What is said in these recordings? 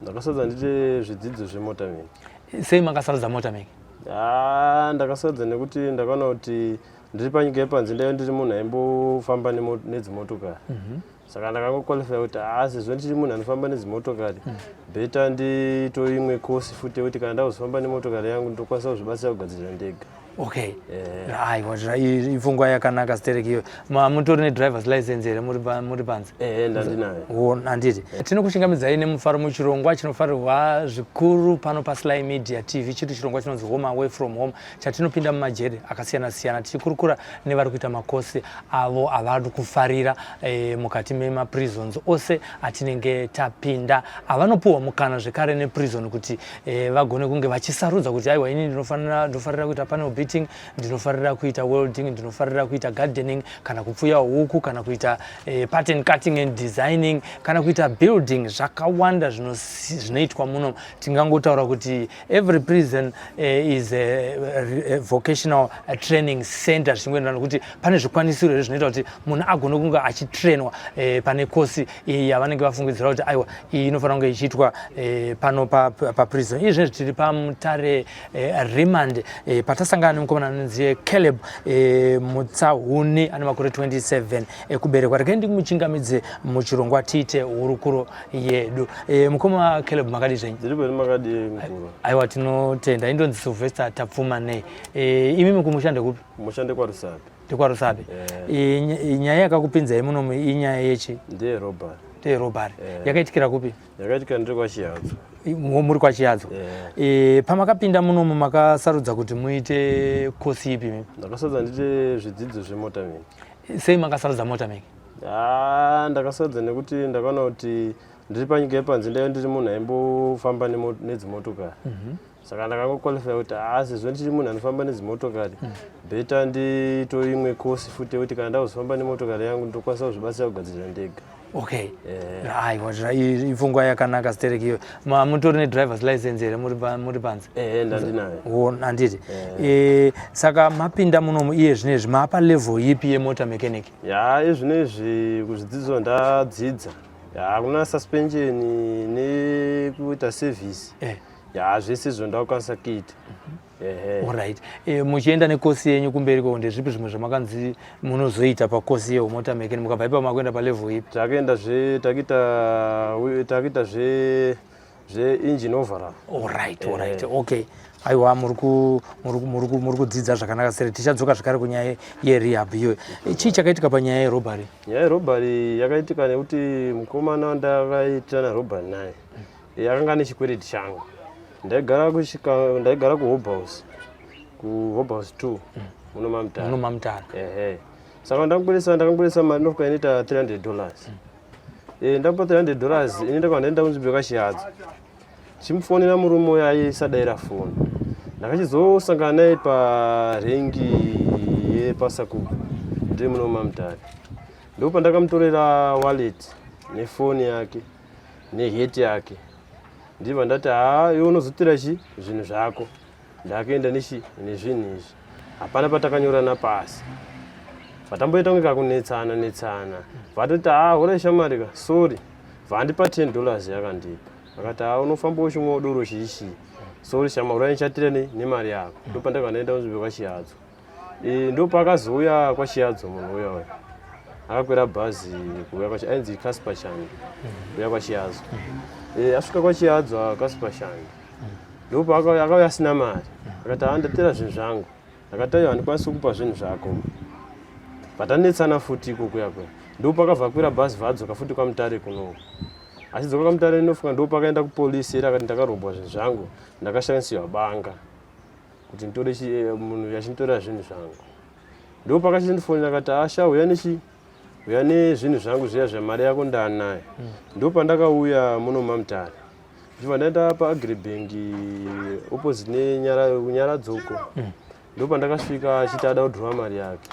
ndakasarudza ndiite zvidzidzo zvemotormaking sei makasarudza motormaking ah, ndakasarudza nekuti ndakaona kuti ndiri panyika yepanze ndaive ndiri munhu aimbofamba nedzimotokari mhm. saka ndakangoqualifya kuti haa ah, sezvo ndichiri munhu anofamba nedzimotokari mhm. beta nditoimwe course futi yekuti kana ndakuzofamba nemotokari yangu ndokwanisa kuzvibatsira kugadzirira ndega okay yeah. aiwa ifungwa yakanaka stereki iyo mutori nedrivers license here muri panze eh, handiti eh. tinokuchingamidzai nemufaro muchirongwa chinofarirwa zvikuru pano pasly media tv chiri chirongwa chinonzi home away from home chatinopinda mumajeri akasiyana siyana tichikurukura nevari kuita makosi avo avari kufarira eh, mukati memaprisons ose atinenge tapinda avanopiwa mukana zvekare neprizon kuti eh, vagone kunge vachisarudza kuti aiwa ini ndinofanira ndofarira kuita panel beating ndinofarira kuita welding ndinofarira kuita gardening kana kupfuya huku kana kuita eh, pattern cutting and designing kana kuita building zvakawanda zvinoitwa muno tingangotaura kuti every prison eh, is a, a, a vocational a training center zvichingoenderana kuti pane zvikwanisiro here zvinoita kuti munhu agone kunge achitrainwa eh, pane kosi iyi yavanenge vafungidzira kuti aiwa iyi inofanira kunge ichiitwa eh, pano paprison izvi zvinezvi tiri pamutare eh, remand eh, patasangana nemukomana anonzi caleb mutsahuni ane makore 27 ekuberekwa regai ndimuchingamidze muchirongwa tiite hurukuro yedu mukoma caleb makadi zvenyu aiwa tinotenda indonzi sylvester tapfuma nei imi mukumushande kupi mushande kwarusapi ndikwarusape eh. nyaya yakakupinzai munomu inyaya yechi ndeyerobhari ndeyerobhari eh. yakaitikira kupi yakaitikira ndiri kwachiyadzo muri kwachiyadzo eh. pamakapinda munomu makasarudza kuti muite kosi ipi ndakasarudza ndiite zvidzidzo zvemotameki sei makasarudza motameki ah, ndakasarudza nekuti ndakaona kuti ndiri panyika yepanze ndaive ndiri munhu aimbofamba nedzimotokari mhm. saka ndakangoqualifya kuti haa sezvo ndichiri munhu anofamba nedzimotokari hmm. beta ndito imwe kosi futi yekuti kana ndakuzofamba nemotokari yangu ndokwanisa kuzvibatsira kugadzirira ndega okay eh. aiwa ipfungwa yakanaka sterek iyo mutori nedrivers license here muri panze eh, ndandinayo handiti eh. saka mapinda munomu iye zvino izvi maapa level yipi yemota mechanic ya izvino izvi kuzvidzidzo ndadzidza hakuna suspension nekuita service ya zvese izvo ndakukwanisa kuita orit eh, muchienda nekosi yenyu kumberi ko ndezvipi zvimwe zvamakanzi munozoita pakosi yeumota mekeni mukabva ipa makuenda palevel ipi takaenda zve takaita zve zveengine overall orit orit eh. okay aiwa muri kudzidza zvakanaka sere tichadzoka zvekare kunyaya yerehab iyoyo eh, chii chakaitika panyaya yerobary nyaya yerobary yakaitika nekuti mukomana ndakaitirana robary naye yakanga nechikwereti changu ndaigara kusvika ndaigara kuhobhouse kuhobhouse two mm. muno mamutara muno mamutara ehe saka ndakubudisa ndakubudisa mari inofuka inoita 300 dollars mm. e, eh, ndakupa 300 dollars ini ndakava ndaenda kunzvimbo yakashihadzo chimufonera murume uyo aisadaira foni ndakachizosangana naye parengi yepasakuku ndiri muno mamutara ndopa ndakamutorera wallet nefoni yake neheti yake ndiva ndati haa iwe unozotora chi zvinhu zvako ndakaenda nechi nezvinhu izvi hapana patakanyorana pasi vatamboita kunge kakunetsana netsana vatoti haa hura shamari ka sorry vandipa ten dollars yakandipa akati haa unofamba uchimwa udoro chiishii sorry shamari urainchatira nemari yako ndopandakanaenda kunzvimbo kwachiyadzo Eh, ndo pakazouya kwachiyadzo munhu uya uya akakwira bhazi kuuya kwachi ainzi casper shani kuuya kwachiyadzo Eh, asvika kwachiyadzo casper shani ndo paakauya akauya asina mari akati haa ndatera zvinhu zvangu akati aiwa handikwanisi kukupa zvinhu zvako vatanetsana futi iko kuya kuya ndo pakabva akwira bhazi vadzoka futi kwamutare kunoku achidzoka kwamutare inofuka ndo pakaenda kupolisi iri akati ndakarombwa zvinhu zvangu ndakashandisirwa banga kuti nditore eh, munhu achinditorera zvinhu zvangu ndo pakachindifonera akati asha uya nechi uya nezvinhu zvangu zviya zvemari yako ndaanayo hmm. ndo pandakauya muno mamutare ndichibva ndaenda paagribank opposite nenyaradzoko hmm. ndo pandakasvika achiti ada kudhurwa mari yake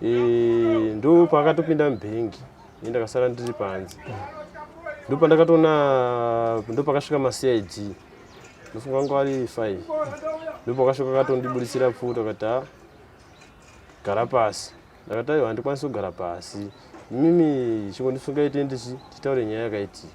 eh, ndo paakatopinda mubhengi ini ndakasara ndiri panze hmm. ndo pandakatoona ndo pakasvika macid musi wangu ari fine ndipo akasvika akatondibudisira pfuta akati ha gara pasi ndakati aiwa handikwanisi kugara pasi mimi chingondisungaite ndichi titaure nyaya yakaiti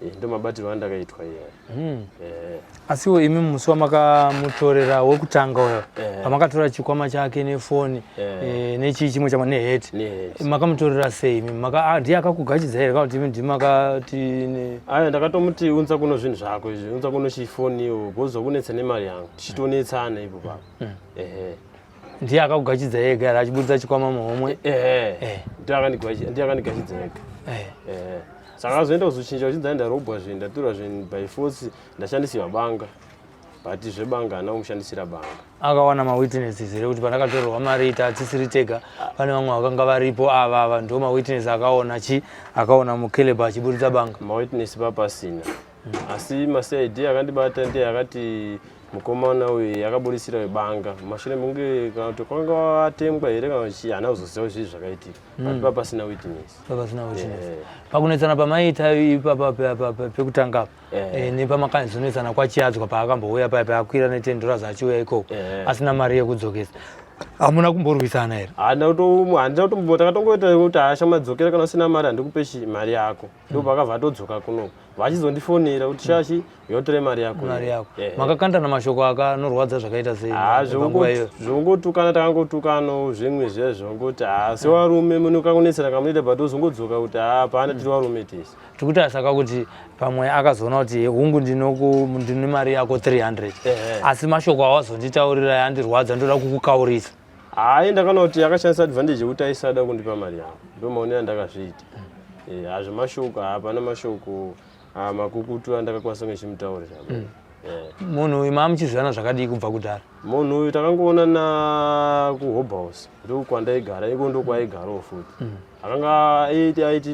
eh, ndo mabatirwo andakaitwa iya hmm. eh. asiwo imi musi wamakamutorera wekutanga uyo eh. pamakatora chikwama chake nefoni yeah. e, nechii chimwe chama nehet makamutorera sei ah, ndiye akakugachidza here kauti ndimakati aya ndakatomuti unza kuno zvinhu zvako izvi unza kuno chifoniwo bozwa kunetsa nemari yangu tichitonetsana ipo papa mm. ehe ndiye akakugachidza ega ari achiburitsa chikwama muhomwe ehe eh. ndiye akandigachidza ega eh. ehe saka azoenda kuzochinja uchinzi ndaenda robwa zvinhu ndatura zvinhu by force ndashandisiwa banga but zvebanga haana kumushandisira banga akawana mawitnesses here kuti pandakatorerwa mari ita hatisiri tega pane vamwe vakanga varipo ava ava ndo mawitness akaona chi akaona mukeleba achiburitsa banga mawitness papasina hmm. asi macid akandibata ndiye akati mukomana uyu yakaburitsira webanga mashure mekunge kana kuti kwanga watengwa here kana chii haana kuzoziva zvii zvakaitika hmm. but papasina witness papasina witness pakunetsana pamaiita ipapa pekutanga apa yeah. e, nepamakanzunetsana kwachiadzwa paakambouya paya paakwira netendo razo achiuya ikoko yeah. asina mari yekudzokesa hamuna kumborwisana here handina kutombo takatongoita kuti hasha madzokera kana usina mari handikupe mari yako ndo mm. pakabva atodzoka kuno vachizondifonera kuti shashi yotore mari yako mari yako yeah. makakandana mashoko aka anorwadza zvakaita sei ah, zvongotukana takangotukanawo zvimwe zviya zvongoti ha ah, sewarume munokangonetsera kamunoita but ozongodzoka kuti ha ah, paana tiri warume tese tikuita saka kuti pamwe akazoona kuti hungu ndine mari yako 300 asi mashoko awazonditaurira yandirwadza ndoda kukukaurisa hayi ndakanoti akashandisa advantage yekuti aisada kundipa mari yangu ndomaone yandakazviita eh, hazvo mashoko hapana mashoko ah, makukutu andakakwanisa ngechimutaurira mm. eh. munhu uyu maamuchizivana zvakadii kubva kudhara munhu uyu takangoonana kuhobhouse ndokwandaigara iko ndokwaigaroo futi mm. akanga aiti aiti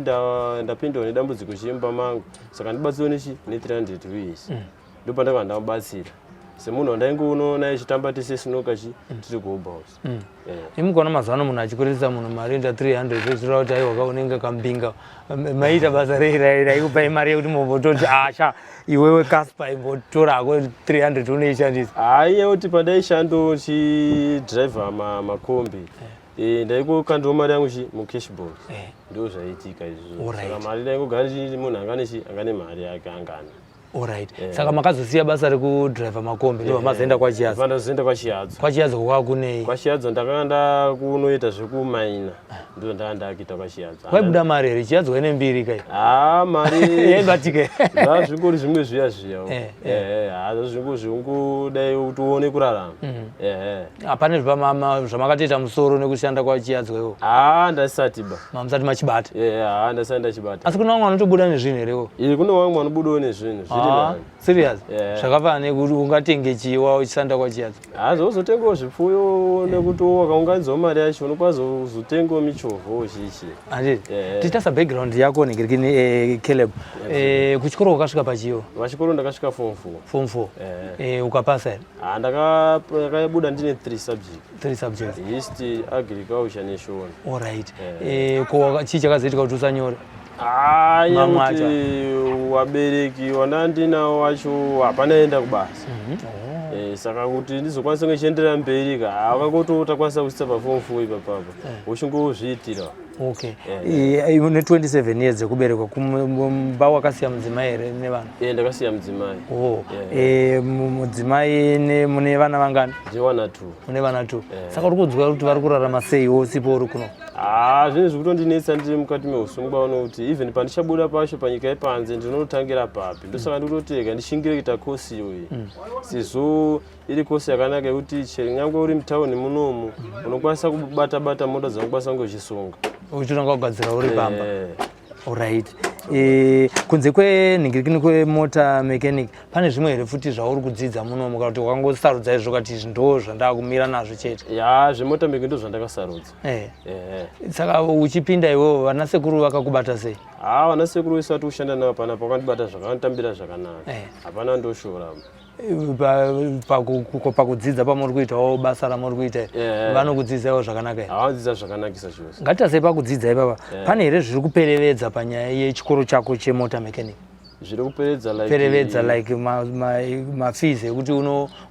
ndapindiwa nedambudziko chimba mangu saka ndibatsiwe nechi ne300 ruies mm. ndopandakanga ndamubatsira semunhu wandainge unoona ichitamba tese sinoka chi mm. tiri kuhobouse mm. eh. imukaona mazuva ano munhu achikuririsa munhu mari enda 300 zvezvira kuti aiwa ka unenge kambinga maiita basa reiraira ikupai mari yekuti mobototi asha ah, iwewe kaspa imbotora hako 300 unoishandisa haiye kuti pandaishandochidriver makombi eh. Eh, ndaikokandwa mari yangu chi mucashball eh. ndo zvaiitika izvozvo mari ndaingogara chii munhu anga nechi anga nemari yake angana orit eh. saka makazosiya basa rekudriver makombi ndo vamazoenda kwachiyazoenda kwachiyadzo kwachiyadzo kwakunei kwachiyadzo ndakanga ndakunoita zvekumaina ndo ndaa ndakuita kwachiyadzo kwaibuda mari here chiyadzo waine mbiri kai haa ah, mari yaibatike zva zvingori zvimwe zviya zviya haa zvazvingozvingu dai utione kurarama mm. ehe hapana zvamakatoita musoro nekushanda kwachiyadzwa iwo haa ndasati ba mamusati machibata haa ndasati ndachibata asi kune vamwe vanotobuda nezvinhu here wo iyi kune vamwe vanobudawo nezvinhu zviri serious zvakafana nekuti ungatenge chiwa uchisanda kwachiyadzwa haa zvozotengawo zvipfuyo nekuti wakaunganidzwa mari yacho unokwanisa kuzotengawo michovho uchichi andi titasa background yako negerikini eh, caleb eh, kuchikoro wakasvika pachiwo pachikoro ndakasvika form four form four eh. ukapasa here Ah, ndakabuda ndine three subject three subjects history agriculture neshona all right eh. eh ko chii chakazoitika kuti usanyore ah, nyamwacha wabereki wana ndinawo wacho hapana enda kubasa mhm. oh. eh, saka kuti ndizokwanisa kunge chienderera mberi ka akakoto utakwanisa kusisa pafomu fo ipapapa eh. uchingozviitira okay eh. une 27 years dzekuberekwa kumba wakasiya mudzimai here nevana yeah, ndakasiya mudzimai oh. yeah. e, mudzimai mune vana vangani vana t mune vana t yeah. saka uri kunzwa kuti vari kurarama sei wosipo uri kuno haa ah, zvinhu zvekutondinetsa ndiri mukati meusungwa uno kuti even pandichabuda pacho panyika yepanze ndinotangira papi ndosaka ndikutotega ndichingire kuita kosi iyoyi mm. sezvo iri kosi yakanaka yekuti chero nyangwe uri mutauni munomu unokwanisa kubata bata mota dzinokwanisa kunge uchisunga uchitanga kugadzira uri pamba eh. orit eh, kunze kwenhingirikini kwemota mechanic pane zvimwe here futi zvauri kudzidza munomu kana kuti wakangosarudza izvo kati izvi ndo zvandaa kumira nazvo chete ya zvemota mechanic ndo zvandakasarudza eh. saka uchipinda iwewo vana sekuru vakakubata sei haa vana sekuru wese vati kushanda navo panapa vakandibata zvakanotambira zvakanaka hapana ndoshora pakudzidza pamuri kuitawo basa ramuri kuita eh. vanokudzidzaiwo zvakanaka havadzidza zvakanakisa chose ngatitasei pakudzidza ipapa eh. pane here zviri kuperevedza panyaya yechikoro chako chemota mechanic zviri kuperevedza like mafees ekuti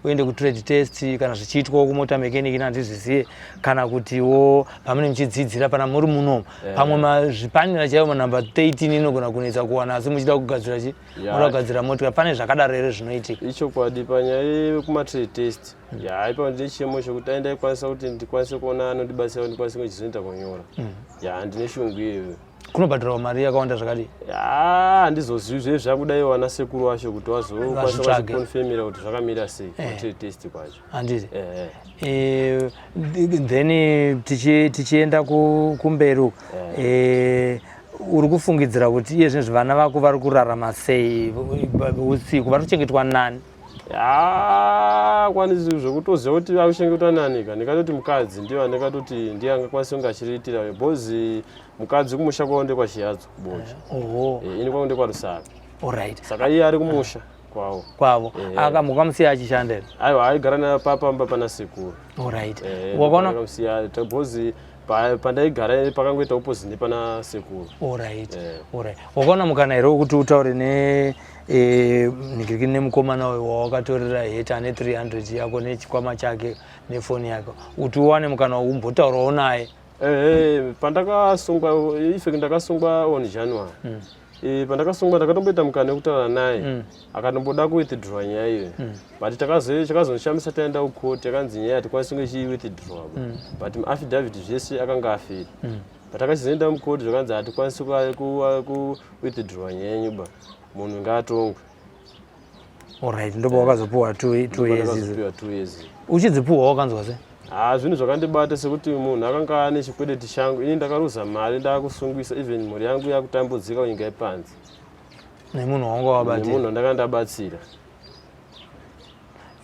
uende kutrade test kana zvichiitwawo kumota mechanic ina handizvizive kana kutiwo pamene muchidzidzira pana muri muno eh. pamwe zvipanera chaivo manumber 13 inogona kunetsa kuwana asi muchida kugadzira chii moda kugadzira motika pane zvakadaro here zvinoitika ichokwadi panyaya yekumatrade test mm. ya haipa ndine chiemo chekuti dai ndaikwanisa kuti ndikwanise kuona anondibatsira kuti ndikwanise kunge chizoita kunyora mm. ya ndine shungu iyoyo kunobhadharawo mari yakawanda zvakadii handizozivi zve zvakudaiwo ana sekuru wacho kuti wazokwanisa kuti zvakamira sei eh. matrade test kwacho handiti eh. eh, then tichienda kumberi uku eh. uri kufungidzira kuti iye zvinezvi vana vako vari kurarama sei usiku vari kuchengetwa nani akwanisi zvekutoziva kuti akuchengetwa nani ka ndikatoti mukadzi ndiyo andikatoti ndiye angakwanisa kunge achiriitira because mukadzi kumusha kwavo ndekwachiyadzo bocha ini kwangu ndekwarusaka saka iye ari kumusha kwavo kwavo yeah. aka mukamusiya achishanda here aiwa aigara napapamba pana sekuru orit yeah, wakaona kusiya because pandaigara pakangoita opposite nepana sekuru orit yeah. orit wakaona mukana here wekuti utaure ne e, nigiriki nemukomana uyo wawakatorera heta ane 300 yako nechikwama chake nefoni yako kuti uwane mukana umbotaurawo naye eh, eh, pandakasungwa ife ndakasungwa on january mm. Eh, pandakasungwa ndakatomboita mukana wekutaura naye mm. akatomboda kuwithdraw nyaya iyo mm. but chakazondishamisa taenda kucourt yakanzi nyaya hatikwanisi kunge chiiwithdraw mm. but muaffidavit zvese akanga afiri but akachizoenda mucourt zvakanzi hatikwanisi kuwithdraw nyaya yenyu ba munhu ngaatongwe Alright, ndipo wakazopuwa 2 years izo. Uchidzipuwa wakanzwa sei? Ah, zvinhu zvakandibata sekuti munhu akanga ane chikwedeti changu, ini ndakaruza mari ndakusungisa even mhuri yangu yakutambudzika kunyika yepanze. Nemunhu wanga wabatsira. Nemunhu ndakanga ndabatsira.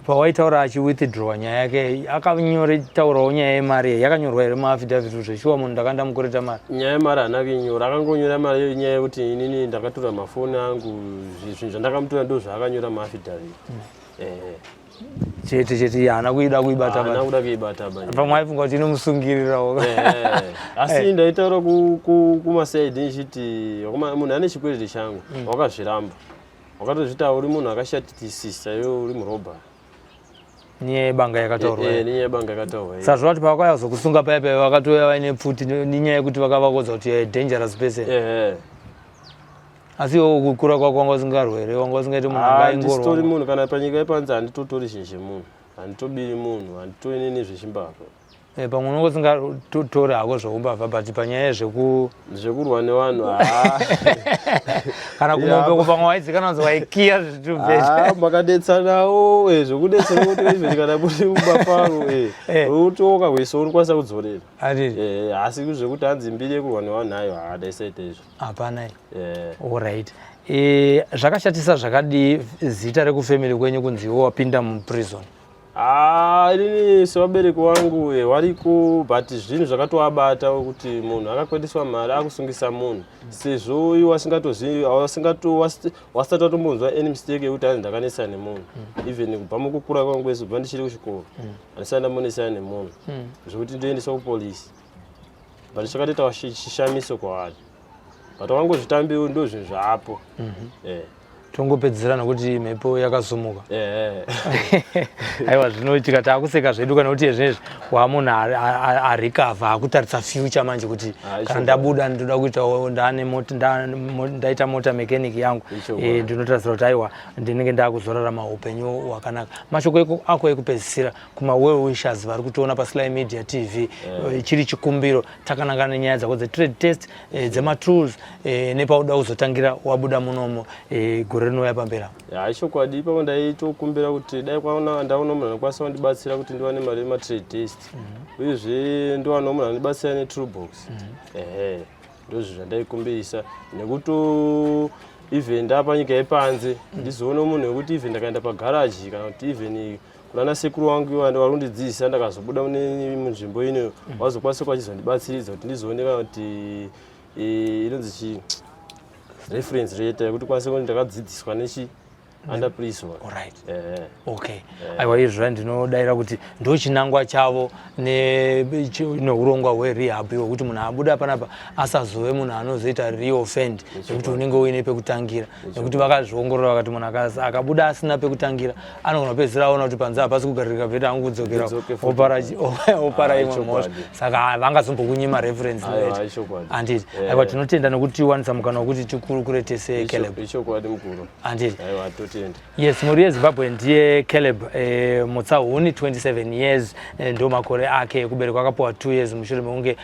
pawaitaura achi withdraw nyaya yake akanyore taurawo nyaya yemari yakanyorwa here muaffidavit zveshuwa munhu ndakanda mukureta mari nyaya yemari hana kuinyora akangonyora mari iyo nyaya yekuti inini ndakatura mafoni angu zvinhu zvandakamutura ndo zvaakanyora muaffidavit mm. eh. chete chete haana kuida kuibatahana kuda kuibatapamwe aifunga kuti inomusungirirawo eh, eh. asi eh. ndaitaura kumasaidi ndichiti munhu ane chikwereti changu mm. wakazviramba wakatozvita uri munhu akashatitisisa iwe uri murobha nyaya yebanga yakataurwa eh, eh, nyaya yebanga yakataurwa eh. sazvo vati pavakauya kuzokusunga paya paya vakatouya vaine pfuti nenyaya yekuti vakavakodza kuti you're a dangerous person asi iwo kukura kwako wanga usingarwe here wanga usingaiti munhu angaingorwandisitori ah, munhu kana panyika yepanzi handitotori zvinhu zvemunhu handitobiri munhu handitoine nezvechimbavha Eh, pamwe unenge usingatori hako zveumbavha but panyaya yezveku zvekurwa nevanhu kana kumombe kupamwe waidzikana wanzi waikiya zvitubvemakadetsanawo eh, zvekudetsera kuti even kana muri umbafaro eh, utoka kweso unokwanisa kudzorera asi zvekuti hanzi mbiri yekurwa nevanhu ayo haadaisaita izvo hapana orit zvakashatisa zvakadii zita rekufamily kwenyu kunziwo wapinda muprison Ah, inini sevabereki wangu eh, variko but zvinhu zvakatoabata kuti munhu akakwendeswa mari akusungisa munhu sezvo iwe asingatozivi wasati watombonzwa any mistake yekuti anzi ndakanetsana nemunhu hmm. even kubva mukukura kwangu kwese kubva ndichiri kuchikoro hmm. andisati ndambonetsana nemunhu hmm. zvekuti ndoendeswa kupolisi but chakatoita chishamiso kwavari but wangozvitambi ndo zvinhu zvaapo mhm. eh. tongopedzisira nokuti mhepo yakasumuka eh. aiwa zvino tikati akuseka zvedu kana kuti ezvinezvi waa munhu arikavha akutarisa future manje kuti ah, kana ndabuda ndoda kuita ndaita mota mechanic yangu eh, ndinotarisira kuti aiwa ndinenge ndakuzorarama upenyu hwakanaka mashoko ako ekupedzisira kuma well wishers vari kutiona pasly media tv eh. Eh, chiri chikumbiro takananga nenyaya dzako dzetrade test eh, dzematools nepauda kuzotangira wabuda munomo gore rinouya pambera hai chokwadi ipapo ndaitokumbira kuti dai kwaona ndaona munhu anokwanisa kundibatsira kuti ndiwane mari yematrade test mhm. uyezve ndiwana munhu anondibatsira netrue box mhm. ehe ndozvo zvandaikumbirisa nekuti even ndapanyika yepanze ndizoona munhu wekuti even ndakaenda pagaraji kana kuti even kunana sekuru wangu ivo vari kundidzidzisa ndakazobuda mune munzvimbo ino mm. vazokwanisa kwachizondibatsiridza kuti ndizooneka kuti e, inonzi chii reference rate yekuti kwanise kuti ndakadzidziswa nechi andapriswa orit eh. okay eh. aiwa izvo zva ndinodaira kuti ndo chinangwa chavo neurongwa hwerehab iwo kuti munhu abuda panapa asazove munhu anozoita reoffend nekuti unenge uine pekutangira nekuti vakazviongorora vakati munhu akabuda asina pekutangira anogona kupedzisira aona kuti panze hapasi kugaririka bheta angu kudzokera opara ah, imwe mhosva saka vangazombokunyima reference handiti ah, eh. aiwa tinotenda nekuti tiwanisa mukana wekuti tikurukure tese caleb handiti yes mhuri yezimbabwe ndiye caleb eh, mutsahuni 27 years eh, ndo makore ake ekuberekwa akapuwa 2 years mushure mekunge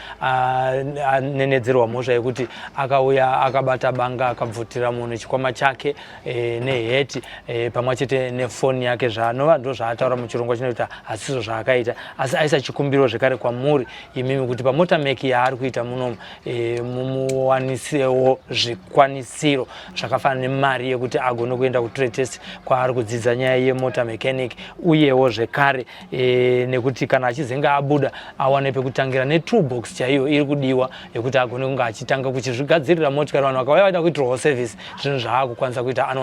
anenedzerwa mhosva yekuti akauya akabata banga akabvutira munhu chikwama chake e, neheti e, pamwe chete nefoni yake zvaanova ndo zvaataura muchirongwa chinoita hasizvo zvaakaita asi aisa chikumbiro zvekare kwamuri imimi kuti pamota meki yaari kuita munomu e, mumuwanisewo zvikwanisiro zvakafanana nemari yekuti agone kuenda kutrade test kwaari kudzidza nyaya yemota mechanic uyewo zvekare e, nekuti kana achizenge abuda awane pekutangira netool box chaiyo iri kudiwa yekuti agone kunge achitanga kuchizvigadzirira motikari vanhu vakauya vaida kuitirwawo service zvinhu zvaakukwanisa kuita anoona